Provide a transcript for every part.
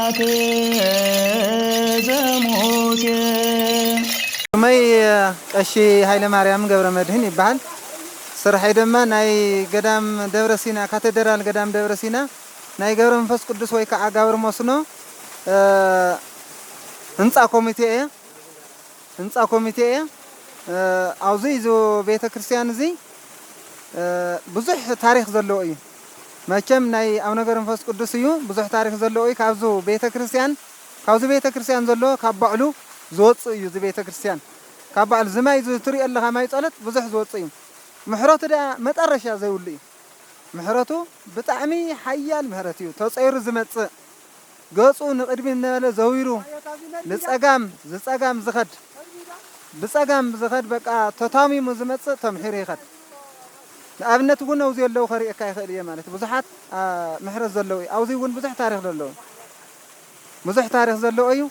ጽላተ ዘሙሴ። ስመይ ቀሺ ሃይለማርያም ገብረመድህን ይበሃል። ስርሐይ ደማ ናይ ገዳም ደብረ ሲና ካተደራል ገዳም ደብረ ሲና ናይ ገብረ መንፈስ ቅዱስ ወይ ከኣ ጋብር ሞስኖ ህንጻ ኮሚቴ እየ። ህንጻ ኮሚቴ እየ ኣውዙይ እዚ ቤተ ክርስቲያን እዙይ ብዙሕ ታሪኽ ዘለዎ እዩ መቸም ናይ ኣብ ነገር ንፈስ ቅዱስ እዩ ብዙሕ ታሪኽ ዘለዎ እዩ ካብዙ ቤተ ክርስቲያን ካብዚ ቤተ ክርስቲያን ዘሎ ካብ ባዕሉ ዝወፅእ እዩ እዚ ቤተ ክርስቲያን ካብ ባዕሉ ዝማይ ዝትሪኦ ኣለኻ ማይ ፀሎት ብዙሕ ዝወፅእ እዩ ምሕረቱ ድኣ መጠረሻ ዘይብሉ እዩ ምሕረቱ ብጣዕሚ ሓያል ምሕረት እዩ ተፀይሩ ዝመፅእ ገጹ ንቕድሚት እናበለ ዘዊሩ ንጸጋም ዝጸጋም ዝኸድ ብጸጋም ዝኸድ በቃ ተታሚሙ ዝመጽእ ተምሒሩ ይኸድ ንኣብነት ውን ኣውዚ ኣለው ከርእየካ ይኽእል እየ ማለት ብዙሓት ምሕረት ዘለው እዩ ኣውዚ ውን ብዙሕ ታሪኽ ዘለው ብዙሕ ታሪኽ ዘለው እዩ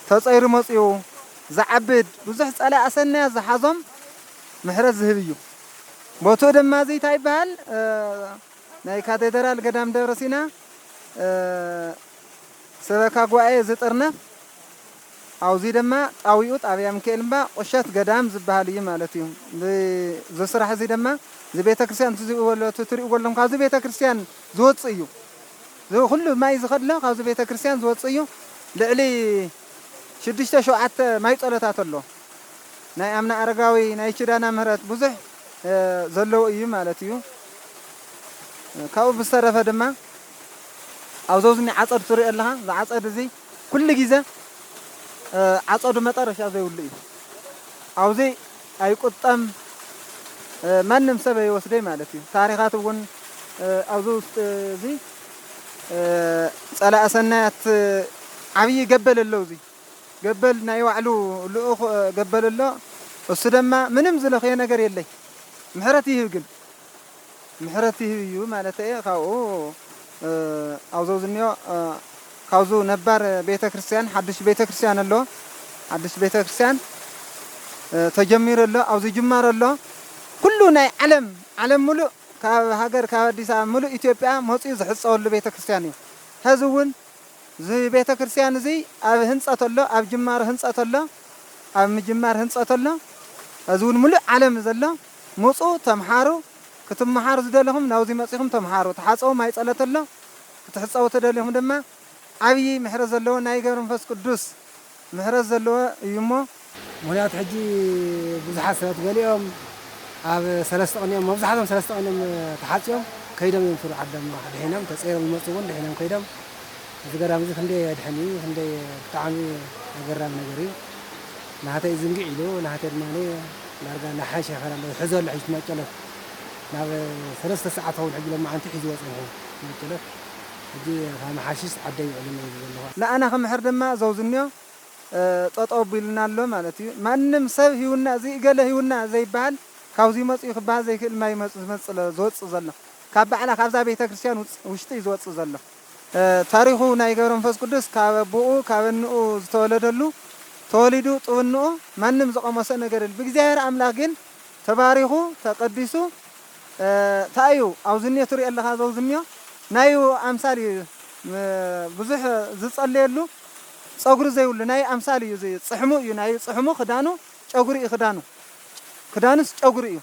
ተጸይሩ መጽኡ ዝዓብድ ብዙሕ ጸላእ ኣሰናያት ዝሓዞም ምሕረት ዝህብ እዩ ቦትኡ ድማ እዚ እንታይ ይበሃል ናይ ካቴድራል ገዳም ደብረ ሲና ሰበካ ጉባኤ ዝጥርነፍ ኣውዙይ ደማ ጣዊኡ ጣብያ ምክኤል እምባ ቁሸት ገዳም ዝብሃል እዩ ማለት እዩ ዝስራሕ እዙይ ደማ ዝቤተክርስቲያን ትዝእወሎ ትትሪእዎ ኣለኹም ካብዚ ቤተክርስቲያን ዝወፅእ እዩ ዝኩሉ ማይ ዝኸድሎ ካብዚ ቤተክርስቲያን ዝወፅእ እዩ ልዕሊ ሽዱሽተ ሸውዓተ ማይ ፀሎታት ኣሎ ናይ ኣምና ኣረጋዊ ናይ ችዳና ምህረት ብዙሕ ዘለዎ እዩ ማለት እዩ። ካብኡ ብዝተረፈ ድማ ኣብዞዝኒ ዓፀድ ትሪኦ ኣለኻ እዚ ዓፀድ እዚ ኩሉ ግዜ ዓፀዱ መጠረሻ ዘይብሉ እዩ ኣብዚ ኣይቁጠም ማንም ሰብ ኣይወስደይ ማለት እዩ ታሪኻት እውን ኣብዚ ውስጥ እዚ ፀላእ ሰናያት ዓብይ ገበል ኣለውዚ ገበል ናይ ባዕሉ ልኡኽ ገበል ኣሎ እሱ ደማ ምንም ዝለኽዮ ነገር የለይ ምሕረት ይህብ ግን ምሕረት ይህብ እዩ ማለት እየ ካብኡ ኣብዞ ዝኒዮ ካብዙ ነባር ቤተ ክርስቲያን ሓድሽ ቤተ ክርስቲያን ኣሎ ሓድሽ ቤተ ክርስቲያን ተጀሚሩ ኣሎ ኣብዚ ጅማሮ ኣሎ ኩሉ ናይ ዓለም ዓለም ሙሉእ ካብ ሃገር ካብ ኣዲስ ኣበባ ሙሉእ ኢትዮጵያ መፅኡ ዝሕፀወሉ ቤተ ክርስቲያን እዩ ሀዚ እውን እዚ ቤተክርስትያን እዚ ኣብ ህንጸት ኣሎ ኣብ ጅማሮ ህንጸት ኣሎ ኣብ ምጅማር ህንጸት ኣሎ እዚ ውን ምሉእ ዓለም ዘሎ ምጹ ተምሓሩ ክትምሓሩ ዝደለኹም ናብዚ መጺኹም ተምሓሩ ተሓጸቡ ማይ ጸሎት ኣሎ ክትሕጸቡ ተደሊኹም ድማ ዓብይ ምሕረት ዘለዎ ናይ ገብረ መንፈስ ቅዱስ ምሕረት ዘለዎ እዩ እሞ። ምክንያቱ ሕጂ ብዙሓት ሰባት ገሊኦም ኣብ ሰለስተ ቅኒኦም መብዛሕቶም ሰለስተ ቅኒኦም ተሓጽዮም ከይዶም እዮም ሱር ዓዶም ድሒኖም ተጸይሮም ዝመጹ ውን ድሒኖም ከይዶም እዚ ገዳም እዚ ክንደይ የድሕን እዩ ክንደይ ብጣዕሚ ኣገራሚ ነገር እዩ ናህተይ እዚ እንግዕ ኢሉ ናህተይ ድማ ዳርጋ ናሓይ ሸፈር ኣሎ ዝሕዞ ኣሎ ሕጂ እቲ ማጨሎት ናብ ሰለስተ ሰዓት ይኸውን ሕጂ ሎማዓንቲ ሒዝዎ ጸኒሑ ማጨሎት ሕጂ ካመሓሽሽ ዓደይ ውዕልና ይብል ዘለኹ። ንኣና ክምሕር ድማ ዘውዝንዮ ጠጠው ኣቢሉና ኣሎ ማለት እዩ። ማንም ሰብ ሂውና እዚ እገለ ሂውና ዘይበሃል ካብዙይ መፅኡ ክበሃል ዘይክእል ማይ መፁ ዝመፅእ ዝወፅእ ዘሎ ካብ ባዕላ ካብዛ ቤተክርስትያን ውፅ ውሽጢ እዩ ዝወፅእ ዘሎ። ታሪኹ ናይ ገብረመንፈስ ቅዱስ ካብ ኣቡኡ ካብ እንኡ ዝተወለደሉ ተወሊዱ ጡብ እንኡ ማንም ዘቐመሶ ነገር የለን ብእግዚኣብሔር ኣምላኽ ግን ተባሪኹ ተቀዲሱ ታይ እዩ ኣውዝንዮ ትሪኦ ኣለኻ ዘውዝንዮ ናዩ ኣምሳል እዩ ብዙሕ ዝፀለየሉ ፀጉሪ ዘይብሉ ናዩ ኣምሳል እዩ እዚ ፅሕሙ እዩ ናዩ ፅሕሙ ክዳኑ ጨጉሪ እዩ ክዳኑ ክዳኑስ ጨጉሪ እዩ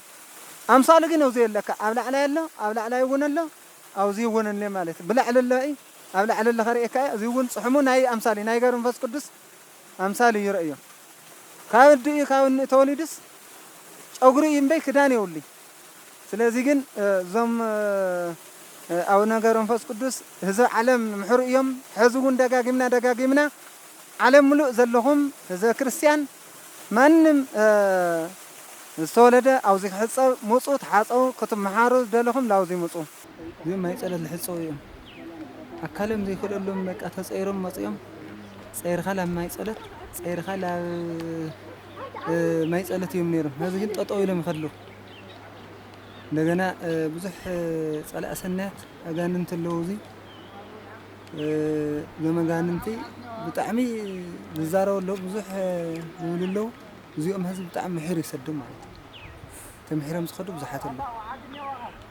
ኣምሳሉ ግን እውዚ ኣለካ ኣብ ላዕላይ ኣሎ ኣብ ላዕላይ እውን ኣሎ ኣውዚ እውን እኔ ማለት ብላዕሊ ኣሎ እዩ ኣብ ላዕሊ ኣለኻ ሪኤካ እዩ እዚ እውን ፅሕሙ ናዩ ኣምሳል እዩ ናይ ገብረ መንፈስ ቅዱስ ኣምሳል እዩ ረእዮ ካብ ኣዲ እዩ ካብ እንእ ተወሊዱስ ጨጉሪ እዩ እምበይ ክዳን የውልይ ስለዚ ግን እዞም ኣውነ ገብረመንፈስ ቅዱስ ህዝብ ዓለም ምሕሩ እዮም ሕዚ እውን ደጋጊምና ደጋጊምና ዓለም ምሉእ ዘለኹም ህዝበ ክርስቲያን ማንም ዝተወለደ ኣውዚ ክሕፀብ ሙፁ ተሓፀቡ ክትመሓሩ ዝደለኹም ላውዚ ሙፁ እዚኦም ማይ ጸሎት ልሕጸቡ እዮም ኣካሎም ዘይክእለሎም በቃ ተጸይሮም መጺኦም ጸይርካ ላብ ማይ ጸሎት ጸይርካ ላብ ማይ ጸሎት እዮም ነይሮም ሀዚ ግን ጠጠው ኢሎም ይኸድሉ እንደገና ብዙሕ ጸላእ ሰናያት ኣጋንንቲ ኣለዉ እዚ እዞም ኣጋንንቲ ብጣዕሚ ዝዛረቡ ኣለዉ ብዙሕ ዝብሉ ኣለዉ እዚኦም ህዝቢ ብጣዕሚ ምሒር ይሰዶም ማለት እዩ ተምሒሮም ዝኸዱ ብዙሓት ኣለዉ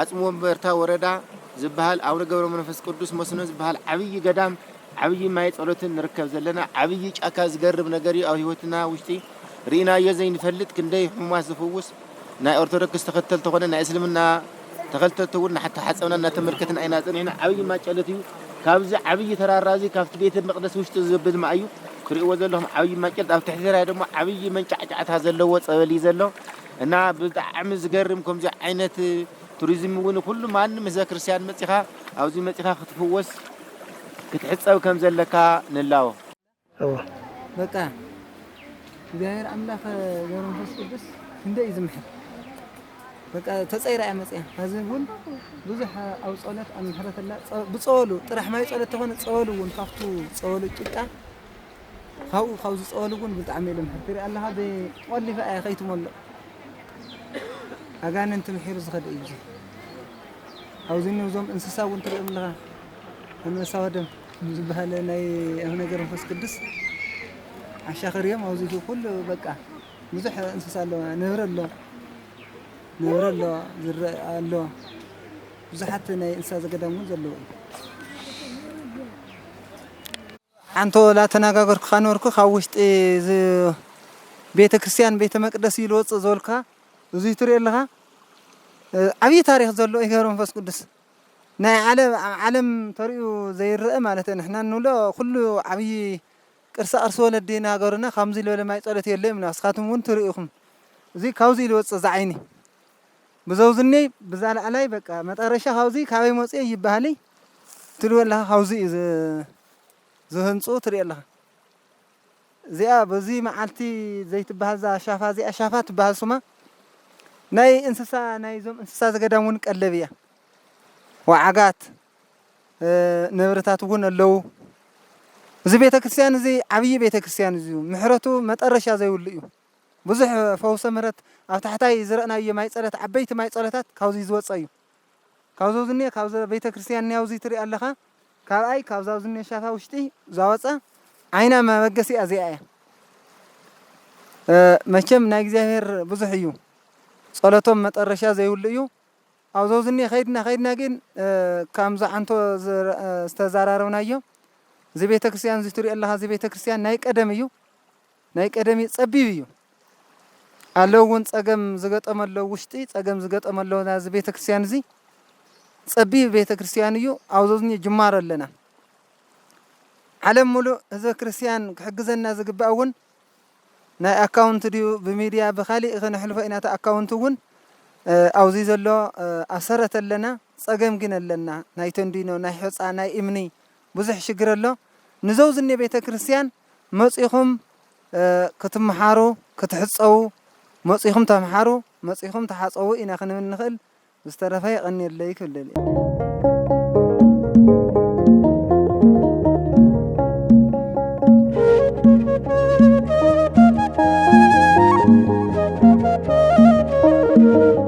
ኣፅም ወንበርታ ወረዳ ዝብሃል ኣውነ ገብረ መንፈስ ቅዱስ መስኖ ዝብሃል ዓብዪ ገዳም ዓብዪ ማይ ፀሎትን ንርከብ ዘለና ዓብዪ ጫካ ዝገርም ነገር እዩ ኣብ ህይወትና ውሽጢ ርኢናዮ ዘይንፈልጥ ክንደይ ሕሙማት ዝፍውስ ናይ ኦርቶዶክስ ተኸተልቲ ኮነ ናይ እስልምና ተኸልተልቲ እውን ናተሓፀብና እናተመልከትና ኢና ፀኒሕና ዓብዪ ማይ ጨሎት እዩ ካብዚ ዓብዪ ተራራ እዚ ካብቲ ቤተ መቅደስ ውሽጢ ዘብል ማይ እዩ ክርእዎ ዘለኹም ዓብዪ ማይ ጨሎት ኣብ ትሕቲ ተራራ ድማ ዓብዪ መንጫዕጫዕታ ዘለዎ ፀበል እዩ ዘሎ እና ብጣዕሚ ዝገርም ከምዚ ዓይነት ቱሪዝም እውን ኩሉ ማንም ህዝበ ክርስቲያን መፂኻ ኣብዚ መፂኻ ክትፍወስ ክትሕፀብ ከም ዘለካ ንላቦ። በቃ እግዚኣብሔር ኣምላክ ገብረ መንፈስ ቅዱስ ክንደይ እዩ ዝምሕር በቃ ተፀይራ እያ መፅያ ሕዚ እውን ብዙሕ ኣብ ፀሎት ኣብ ምሕረት ኣላ ብፀወሉ ጥራሕ ማይ ፀሎት ተኾነ ፀወሉ እውን ካብቱ ፀወሉ ጭቃ ካብኡ ካብ ዝጸወሉ ግን ብጣዕሚ እየ ልምሕር ትሪኣ ኣለኻ ብቆሊፋ እያ ከይትመልእ ኣጋንንቲ ምሒሩ ዝኸደ እዩ ኣብዚ እኒ እዞም እንስሳ እውን ትሪኦም ኣለኻ ኣንበሳ ወደም ዝበሃለ ናይ ኣብ ነገር መንፈስ ቅዱስ ዓሻኽር እዮም ኣብዚ ኩሉ በቃ ብዙሕ እንስሳ ኣለዋ ነብሪ ኣሎ ነብሪ ኣሎ ዝረአ ኣሎ ብዙሓት ናይ እንስሳ ዘገዳም እውን ዘለዉ እዩ ሓንቶ ላተናጋገርኩካ ነበርኩ ካብ ውሽጢ እዚ ቤተ ክርስትያን ቤተ መቅደስ እዩ ልወፅእ ዝበልኩካ እዙይ ትሪኦ ኣለካ ዓብዪ ታሪክ ዘሎ እዩ ገብረ መንፈስ ቅዱስ ናይ ዓለ ኣብ ዓለም ተሪኡ ዘይረአ ማለት ንሕና እንብሎ ኩሉ ዓብዪ ቅርሳ ቅርሲ ወለዲ ናገሩና ካምዙይ ልበለ ማይ ፀሎት የለ ይብሉና ንስካትኩም እውን ትሪኡ ኢኩም እዙይ ካብዙይ ልወፅእ ዝዓይኒ ብዘውዝኒይ ብዛ ላዕላይ በቃ መጠረሻ ካብዙይ ካበይ መፁ እየ ይባሃልይ ትልዎ ኣለኻ ካብዙይ እዩ ዝህንፁ ትሪኢ ኣለኻ እዚኣ በዙይ መዓልቲ ዘይትባሃል እዛ ሻፋ እዚኣ ሻፋ ትባሃል ሱማ ናይ እንስሳ ናይ ዞም እንስሳ ዘገዳም እውን ቀለብ እያ ወዓጋት ነብርታት እውን ኣለዉ እዚ ቤተ ክርስቲያን እዚ ዓብዪ ቤተ ክርስቲያን እዩ ምሕረቱ መጠረሻ ዘይብሉ እዩ ብዙሕ ፈውሰ ምህረት ኣብ ታሕታይ ዝረእናዮ ማይ ጸለት ዓበይቲ ማይ ጸሎታት ካብዙይ ዝወጸ እዩ ካብዞ ዝኔ ካብዘ ቤተ ክርስቲያን ኒያውዙይ ትርእ ኣለኻ ካብኣይ ካብዛው ዝኔ ሻፋ ውሽጢ ዛወጸ ዓይና መበገሲኣ እዚኣ እያ መቸም ናይ እግዚኣብሔር ብዙሕ እዩ ጸሎቶም መጠረሻ ዘይብሉ እዩ ኣብዞ ዝኔ ኸይድና ኸይድና ግን ካም ዝዓንቶ ዝተዛራረብናዮ እዚ ቤተ ክርስቲያን እዙይ ትሪኦ ኣለኻ እዚ ቤተ ክርስቲያን ናይ ቀደም እዩ ናይ ቀደሚ ጸቢብ እዩ ኣለው ውን ጸገም ዝገጠሞ ኣሎ ውሽጢ ጸገም ዝገጠሞ ኣሎ ናዚ ቤተክርስትያን እዚ ጸቢብ ቤተክርስትያን እዩ ኣብዞዝኒ ጅማሮ ኣለና ዓለም ሙሉእ ህዝበ ክርስትያን ክሕግዘና ዝግባእ እውን ናይ ኣካውንት ድዩ ብሚድያ ብካሊእ ክነሕልፎ ኢና እቲ ኣካውንት እውን ኣብዚ ዘሎ ኣሰረት ኣለና ጸገም ግን ኣለና ናይ ተንዲኖ ናይ ሑጻ ናይ እምኒ ብዙሕ ሽግር ኣሎ ንዘው ዝኔ ቤተክርስትያን መጺኹም ክትምሓሩ ክትሕጸዉ መጺኹም ተምሓሩ መጺኹም ተሓጸዉ ኢና ክንብል ንኽእል ብዝተረፈ የቐንየለይ ክብል ደልየ።